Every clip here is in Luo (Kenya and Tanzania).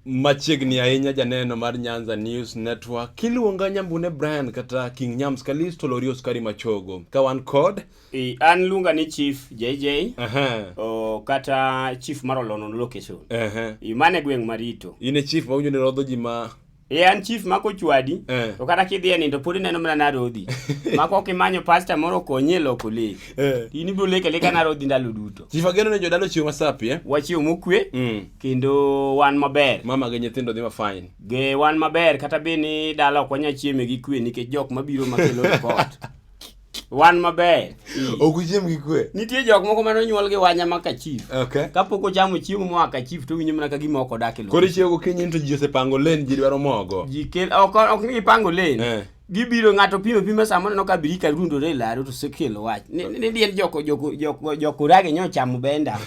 Machiegni ahinya janeno mar Nyanza News Network kiluonga Nyambune Brian kata King Nyams Kalisto Lorios Kari Machogo ka wan kod I, an luonga ni Chief JJ Aha. o, kata Chief mar Olono Location. Aha. I, mane gweng' Marito. In e chief ma winjo ni rodho ji ma e an chief ma kochwadi eh. to kata kidhi e nindo pod ineno mana narodhi ma kok imanyo pasta moro okonyi e loko lek eh. in ibiro lek aleka narodhi ndalo duto chief ageno ne jodalo chiwo masapi eh? wachiwo mokwe mm. kendo wan maber mama gi nyithindo dhi mafine ge wan maber kata be ni dala ok wanyal chieme gi kwe nikech jok mabiro makelo report wan maber ok uchiem gi kwe nitie jok moko mane onyuol gi wanya ma kachif okay kapok ochamo chiemo moa kachif to winyo mana ka gima ok odak e koro ichiewo gokinyi to ji osepango len ji dwaro mogo ji kel ok ok ni gipango len eh. gibiro ng'ato pimo pimo sama oneno ka birika rundore e laro to sekelo wach ni diel joko joko joko joko rage nyo chamo benda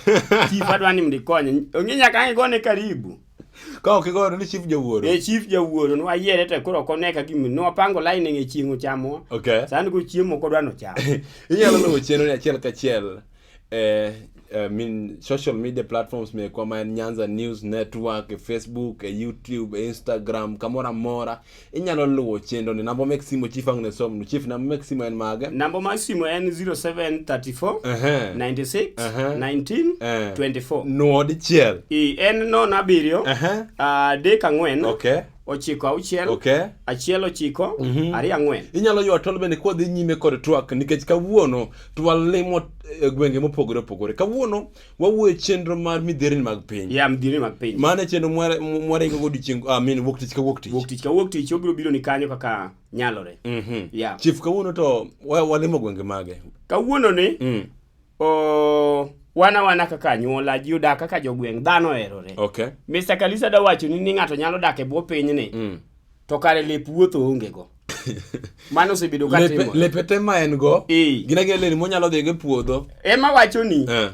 chief adwani mdikonye onge nyaka ang'e gone karibu Ka ok igoyo ni chief jawuoro. E chief jawuoro nwa yiere to koro kone ka gim nwa pango line nge chiengo chamo. Okay. San go chiemo ko dwano chamo. Inyalo luwo chenro ni achiel kachiel eh I mean, social media platforms mekwa ma en Nyanza News Network, e Facebook, e YouTube, e Instagram, kamora mora. inyalo luwo chenro ni namba mek simu chief ang' ne somnu chief namba mek simu en mage Namba mar simu en 0734 Ehe. 96 Aha. 19 Eh. 24. nuo dichiel I en nono abiriyo, Ehe. adek ang'wen, okay ochiko auchiel, okay achiel ochiko, ariyo ang'wen. inyalo ywa tol bende kodhi nyime kod twak nikech kawuono twalimo eh, gwenge mopogore opogore kawuono wawuoyo chenro mar midhierni mag piny ya midhierni mag piny mane chenro mwaringo go odiechieng ah, min wuok tich ka wuok tich wuok tich ka wuok tich obiro biro ni kanyo kaka nyalore mm -hmm. yeah. chief kawuono to walimo gwenge mage kawuono ni mm. o wana wana kaka anyuola ji odak kaka jogweng' dhano oherore okay. Mr. Kalisa da wacho ni ni ng'ato nyalo dak e bwo pinyni mm. to kare lep wuotho onge go mano osebedo ka Lepe- timore lepe te ma en go Eh. gin agia leni monyalo dhigo e puodho ema wacho ni Eh.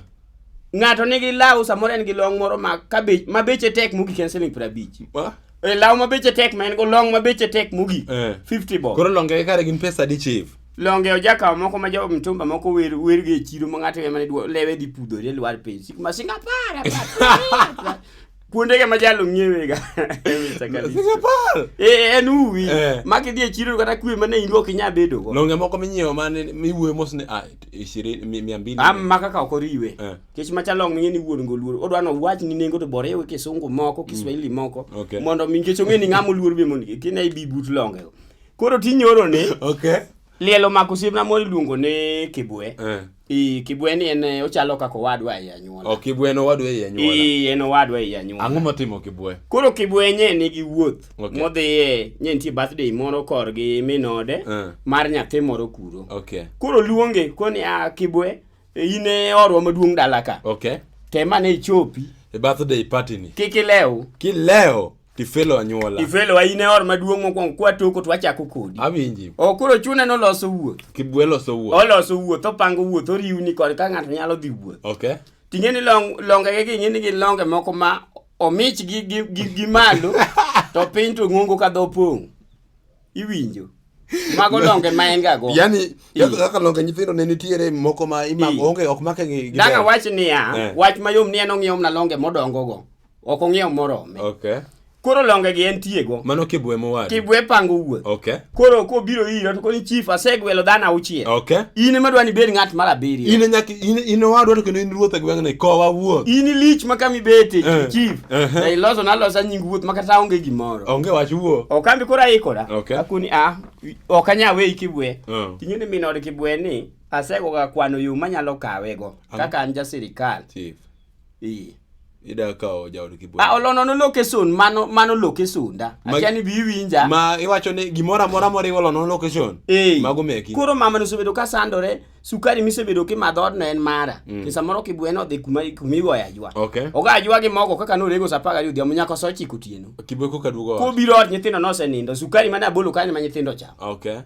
ng'ato nigi law samoro en gi long moro ma ka bech- ma beche tek mogik en siling piero abich Ma? e law ma beche tek ma en go long ma beche tek mogik Eh. 50 bob koro longe kare gin pesa adi chief longe ojakawo moko ma jo mtumba moko wer wer gi e chiro ma ng'ato ema ne dwa lewe dhi pudhore lwar piny sik ma singa para kuondege ma jalo ng'iewega eh, en uwi eh. ma kidhi e chiro kata kwe mane in ok inya bedogo longe moko minyiewo mane miwuoyo mos ni ah, mia mbili ah, ma kaka ok oriwe eh. kech macha long ming'e ni wuon go luor odwa nowach ni nengo to bore ewe kisungu moko kiswahili mm. moko mondo mi nikech ong'e ni ng'ama oluor be mondo kine ibi but longego koro tinyoro ni liel omako osiepna moro iluongo ni kibwe Ii, Kibweni en eh, ochalo kaka owadwa ei anyuola. Ok Kibwe en owadwa ei anyuola. Ii, en owadwa ei anyuola. Ang'o motimo Kibwe? Koro Kibwe nye nigi wuoth Okay. modhiye nye nitie birthday moro korgi min ode Eh. mar nyathi moro kuro. Okay. Koro luonge koni a Kibwe in e orwa maduong' dala ka. Okay. Temane ichopi E birthday party ni. Kik ilew. Kileo. Tifelo anyuola. Tifelo in e or maduong' mokwongo kwa toko to wachako kodi. Awinji. O koro chune no loso wuoth. Kibwe loso wuoth. Oloso wuoth, opango wuoth, oriwni kod ka ng'ato nyalo dhi wuoth. Okay. Ting'e ni long longe gi ging'e ni gin longe moko ma omich gi gi gi, gi malo to piny to ng'ongo ka dho pong'. Iwinjo. Mago longe ma en gago. Yaani kaka longe nyithindo ne nitiere moko ma imako onge ok make gi. Danga wach niya, eh. wach mayom ni en ong'iew na longe modongo go. Ok ong'iew morome. Okay. Koro longe gi en tiego. Mano kibwe mowadu. Kibwe pango wuoth. Okay. Koro ko biro ira to koni chief asegwelo dhana auchiel. Okay. In ema dwani bed ng'at mar abiriyo. In nyaka in in owadwa to kendo in ruoth e gweng'ni kowa wuoth. In lich ma kami bete uh, chief. Uh eh, -huh. Eh. Iloso na losa nying wuoth ma kata onge gimoro. Onge wach wuo. Okambi koro aikora. Okay. Akuni a ok anya we kibwe. Uh. Oh. Tinyoni minod kibwe ni asego ga kwano yo manyalo kawego kaka an ja sirikal. Chief. Ii. Ida kawo jaod Kibuye. Ah, olono no location mano mano location da. Akia ni biwinja. Ma iwacho ni gimora mora mori olono location. Ee. Mago meki. Koro mama no sebedo ka sandore, sukari mi sebedo ki madhod na en mara. Mm. Kisa moro Kibuye no dhi kuma kumi go ya jwa. Okay. Oga jwa gi mogo kaka no rego sapaga yudhi amunya ko sochi kutieno. Kibuye ko kadugo. Ko biro od nyithindo no senindo, sukari mana bolo kanyo ma nyithindo cha. Okay.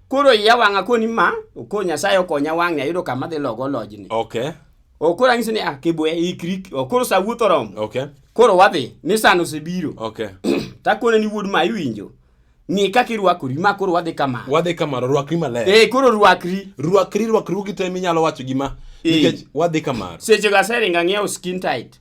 Koro iya wanga koni ma, okonya sayo konya wang'e ayudo kama dhi logo lojni. Okay. okoro ang'isi ni a kibwe ikri okoro sa wuoth oromo Okay. koro wadhi ni sano osebiro Okay. takone ni wuod ma iwinjo ng'i kaka irwakori ma koro wadhi kama Wadhi kamano rwakri maler. ee koro rwakri Rwakri rwakruogi te minyalo wacho gima Eh. nikech wadhi kamano. sechego aseringa ng'iewo skin tight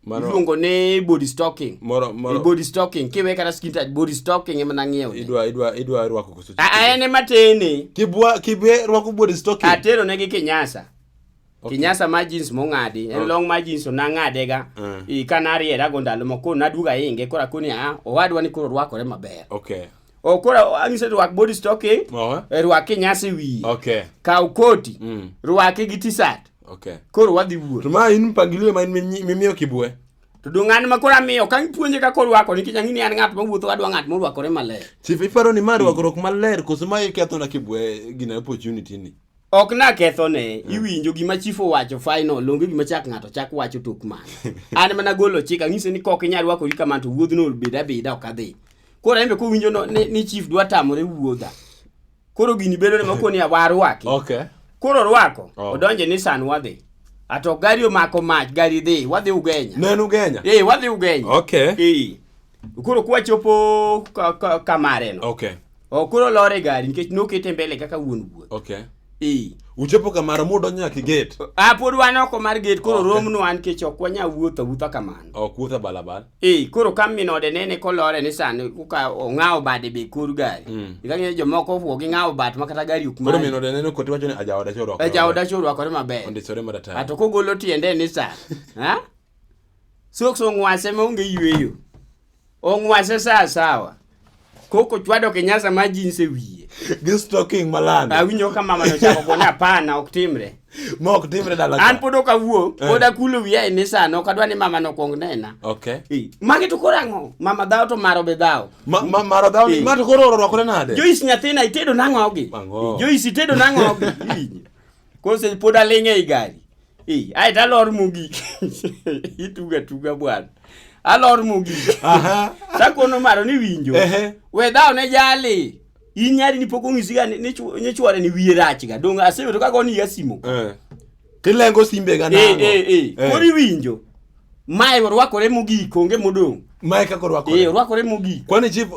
Mano- iluongo ni body stocking Moro- moro- body stocking kiwe kata skin tight body stocking ema nang'iewo ne. idwa idwa idwa rwako koso A- a en ema tene kibwa kibe rwako body stocking atero ne gi kinyasa Okay. kinyasa ma jeans mong'adi en Okay. long ma jeans nang'adega Mm. i ka nariera go ndalo moko naduga inge kora koni a owadwa ni koro rwakore maber okay o koro ang'ise rwak body stocking Oho. eh, rwak kinyasa e wiye okay kaw koti Mm. rwake gi t-shirt Okay. Koro wadhi wuoth. To ma in mpangilio ma in mimiyo kibwe. To dong an ma koro amiyo ka ipuonje kaka orwako nikech ang'ini an ng'at mawuotho adwa ng'at morwakore maler. Chief iparo ni ma rwakruok maler koso ma iketho na kibwe gina opportunity ni. Ok na ketho ne hmm. iwinjo gima chief owacho final longe gima chak ng'ato chak wacho tok man. An mana golo chik ang'ise ni kok inyal rwakori kamano to wuodhno obeda beda ok adhi. Koro en be kowinjo ni chief dwa tamore wuodha. koro gini bedo ni moko ni warwaki okay koro rwako oh. odonje ni san wadhi ato gari omako mach gari dhi wadhi ugenya nenu ugenya eh wadhi ugenya okay eh koro kwa chopo kamare no okay o koro lore gari nikech nokete mbele kaka wuon wuoth okay eh uchopo kamaro mudo nyaka gate a pod wan oko mar gate koro okay. romno an kech ok wanya wuotho wuotha kamano ok wuotha balabala Ee, koro ka min ode nene kolore ni sani kuka ong'awo bade be kor gari. Mm. Ika ng'eyo jomoko wuo gi ng'awo bat ma kata gari ok koro many. min ode neno koti wacho ni ajaoda choro E jaoda cho orwakore maber. ondisore maratari Ato kogolo tiende ni sa. Ha? Soks ong'wase ma onge yweyo. Ong'wase sa sawa. Koko chwado kinyasa ma jinse wiye. Gi stocking malando. Awinjo ka mama no chako gona hapana ok timre. Ma ok timre dala. An pod ok awuo, eh. pod akulo wiya e mesa no kadwa ni mama no kuong nena. Okay. Eh, magi to koro ang'o? Mama dhao to maro be dhao. Ma, ma maro dhao ni eh. ma to koro orwakore nade? Joyce nyathina itedo nang'o gi? Joyce itedo nang'o gi? kose pod aling' ei gari Eh, ae to alor mogik ituga tuga bwana alor mogik Aha. sakono maro ni winjo Ehe. we dhawo ne jali in nyari ni pok ong'isiga ni- ni chw- ni chwore ni wiye rachga dong' aseyudo kaka oniya simo Eh. Tilengo simbe ga Eh, nango. eh, eh. Koro iwinjo Mae orwakore mogik onge modong'. Mae kaka orwakore. Eh orwakore mogik. Kwani chief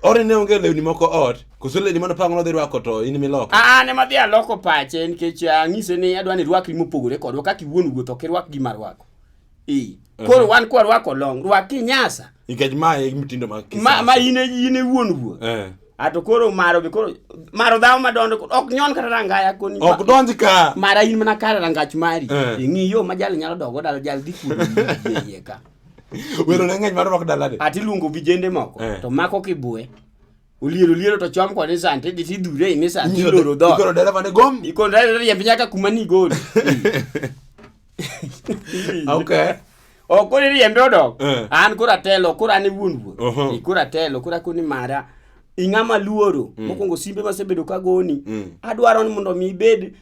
ore ne onge lewni moko ot. Koso lewni mano pango nodhi rwako to in miloko. Ah, ah ne madhi aloko pache nikech ah, ang'ise ni adwa ni rwakri mopogore kodwa kaka iwuon wuoth ok irwak gima rwako. Eh. Koro wan kwa rwako long, rwak kinyasa. Nikech mae mtindo mag kisasa. Ma, ma in in wuon wuon. Eh. ato koro maro be koro maro dhao madondo ok nyon kata rangaya koni ok donj ka mara in mana kare rangach mari eh. ing'i yo ma jal nyalo dogo dal jal dhi kuno yeye ka wero ne ng'eny mar rwak dalade ati luongo vijende moko eh. to mako kibue oliero liero to chom kode sante idhi tidhure ine sante iloro dho ikoro dereva ne gom ikoro dereva ne yembe nyaka kuma ni goli okay ok koro iriembe odok eh. an koro atelo koro an e wuon wuon koro atelo koro akoni mara ing'ama luoro mm. mokwongo simbe masebedo ka goni mm. adwaro ni mondo mi ibed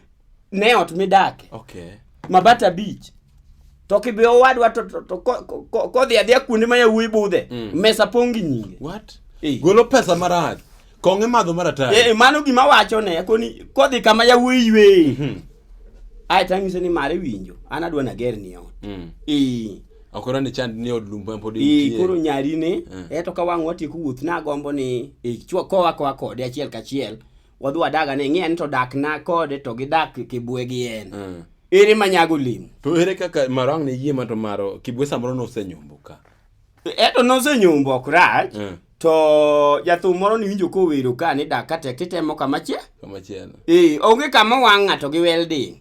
ne ot midake okay. mabata beach to kibe owadwa to, to, to kodhi adhiya kuonde ma yawuoyi budhe mm. mesa pong' gi nyinge What? Hey. golo pesa marach Kong'e madho maratari. Eh, mano gima wacho ne koni kodhi kama yawuoyi ywe. Mhm. Ai tangise ni mare winjo. An adwa na ger ni ot. Mm. Eh. Okoro ni chand ni od lumba pod Eh, intie. koro nyari ne Eh. eto ka wang' watieko wuoth na gombo ni eh, chwa kowa kowa kode achiel kachiel wadhi wadaga ne ng'e ni to dak na kode to gidak kibwe gi en Mm. ere manyago lemo To ere kaka marang ne yie ma to maro kibwe samoro nosenyombo ka. Eto nosenyombo ok rach Eh, to jathum moro niwinjo kowero ka ni dak ka tek titemo kama chia. kama chielo Ee, onge kama wang' ng'ato gi welding.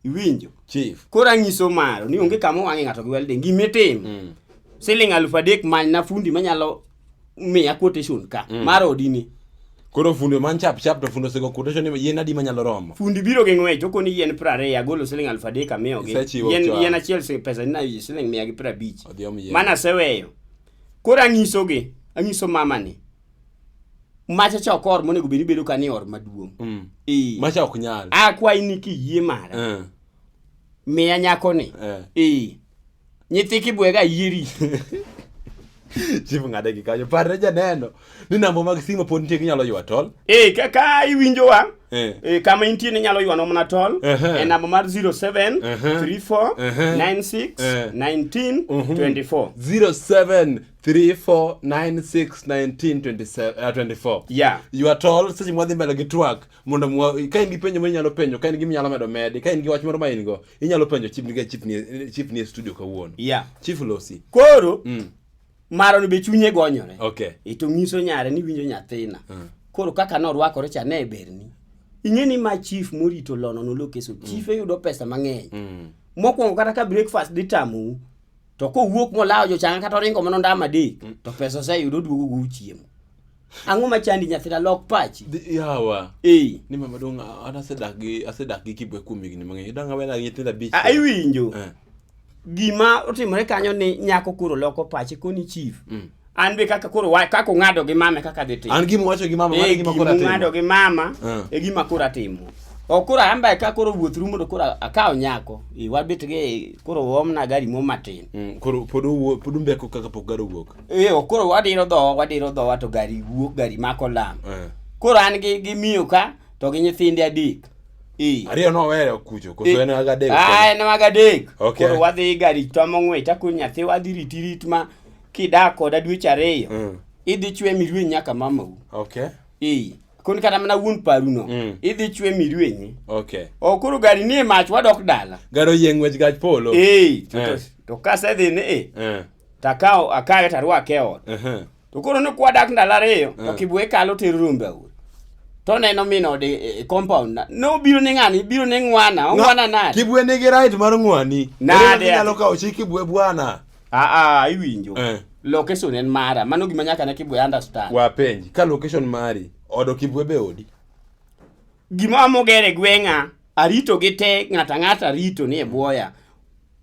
Iwinjo? chief Koro anyiso maro ni onge kama wang'e ng'ato gi welding. Gima itimo mm. siling aluf adek many na fundi manyalo miya quotation ka Mm. mar odini Koro fundo man chap chap to fundo sego quotation ni yien adi manyalo romo. Fundi biro gi ng'wech okoni yien piero ariyo agolo siling aluf adek amiyogi. Isechiwo Yien, chon. yien achiel si- pesa ni nayi siling mia gi piero abich. Odhi omi yien. Mana aseweyo. Koro anyisogi, anyiso mama ni. Macha cha ok or monego bed ni bedo ka ni or maduong'. Mm. Ee. Macha ok nyal. Akwayi ni kiyie mara. Eh. Miya nyako ni. Eh. Ee. nyithi kibwega yieri chief ng'ade gi kanyo parre janeno ni namba mag simo pod nitie ginyalo ywa tol e ka, ka iwinjowa Eh. e, kama intie ninyalo ywanwa mana tol Ehe. e namba mar 07 Ehe. 34 Ehe. 96 Eh. 19 Mhm. 24 0734961924 yeah ywa tol seche mwadhi mbele gi twak mondo mwa ka in gi penjo ma inyalo penjo ka in gi minyalo medo medi ka in gi wach moro ma in go inyalo penjo chief nige chief ni chief ni e studio kawuono yeah chief losi koro mm. maro ni be chunye gonyore okay ito nyiso nyare ni winjo nyathina mm. koro kaka norwakore cha ne berni ing'e ni ma chief morito lono no lokeso mm. chief eyudo pesa mang'eny mm. mokwongo kata ka breakfast dhi tamu to kowuok molawo jochanga kata oringo mana ndama adek mm. to pesa oseyudo oduogo go chiemo Ang'o ma chandi nyathira lok pachi? Yawa. Eh. Ni mama dong an asedak gi asedak gi kibwe kuom higni mang'eny. Dang awena nyithinda bich. Ah, iwinjo. Eh. Gima otimore kanyo ni nyako koro loko pachi koni chief. Mm. An be kaka koro wa kaka ung'ado gi mama kaka dhi timo. An gima wacho gi mama, mano eh, gima koro atimo. Ung'ado gi mama eh. e gima koro atimo. Okura hamba ka koro wuoth rumo to koro akawo nyako. Iwabit gi koro omna gari mo matin. Mm, koro pod owuo pod umbeko kaka pok gari owuok. Eyo, koro wadiro dhowa wadiro dhowa to gari wuok gari mako lam Eh. koro an gi gi miyo ka to gi nyithinde adek Eh. ariyo nowere kucho koso en aga dek Ah, en mag adek Okay. koro wadhi gari twamo ng'wech takun nyathi wadhi riti rit ma kidak koda dweche ariyo Mm. idhi chwe mirwenyi nyaka mamau okay Ee, kun kata mana wuon paruno Mm. idhi chwe mirwenyi okay o koro gari nie mach wadok dala garo yie ng'wech gach polo Ee, to- Eh. to- to kasedhi ni e eh Takawo akawe tarwake e ot. Ehe. To koro ne kwadak ndalo ariyo to Eh. kibuye kalo tero rombe aur. To neno min ode e- e compound na. Ne obiro ne ng'ani, biro ne ng'wana, ong'wana nade? Kibwe nigi right mar ng'wani. Nade? Ere kaka Inyalo kawo chi kibwe bwana. Ah ah, iwinjo. Eh. Location en mara. Mano gima nyaka ne kibuye understand. Wapenji ka location mari odo kibwe be odi. Gima moger e gweng'a, arito gi te ng'ata ng'ata rito ni e bwoya.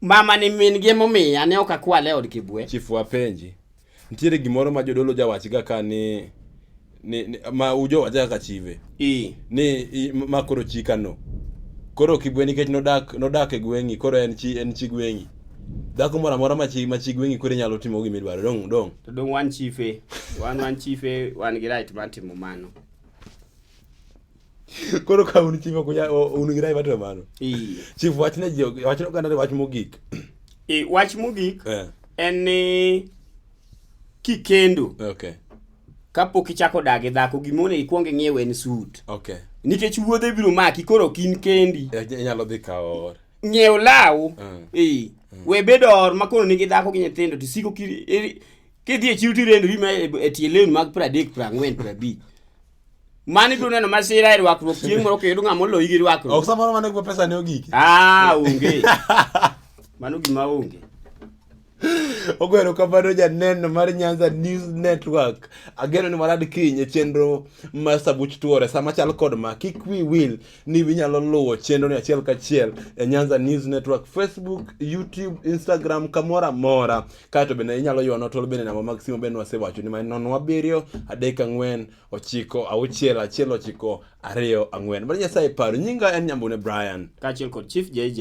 Mama ni min gi momiya ne ok akwale od kibwe. Chief wapenji. Nitiere gimoro ma jodolo jawach ga ka ni ni, ni ma ujo wacha kaka chive. I. Ni i, ma koro chika no. Koro kibwe nikech nodak nodak e gweng'i koro en chi en chi gweng'i. Dhako moro amora ma chi ma chi gweng'i koro inyalo timo gima idwaro. Dong dong. To dong wan chife. Wan wan chife wan gi right mar timo mano. koro ka un chief ok unya- o- un gi rai matimo mano Ee. chief wach ne ji wach ne oganda ni wach mogik Ee, wach mogik Eh, en ni kikendo okay kapok ichako dak gi dhako gima onego ikwong ing'iew en sut okay nikech wuodhe biro maki koro ok in kendi Eh, inyalo dhi kawo ng'iew law Mm. ee we bed or ma koro nigi dhako gi nyithindo to siko ki- iri- kidhi e chiro tirendori ma e e tie lewni mag pradek prang'wen prabich Mano ibiro neno masira e rwakruok chieng' moro kiyudo ng'ama oloyi gi rwakruok. Ok samoro mano gima pesa ne ogiki. Ah, onge. Mano gima onge. Ogwero kamano janeno mar Nyanza News Network. Ageno ni warad kiny e chenro mar Sabuch Tuore sama chal kod ma kik wi wil ni winyalo luwo chenro ni achiel kachiel e Nyanza News Network Facebook, YouTube, Instagram kamora mora. kae to bende inyalo ywanwa tol bende namba mag simu bende wasewacho ni mani nono abiriyo adek ang'wen ochiko auchiel achiel ochiko ariyo ang'wen mano nyasaye paro nyinga en nyambune brian kaachiel kod chief jj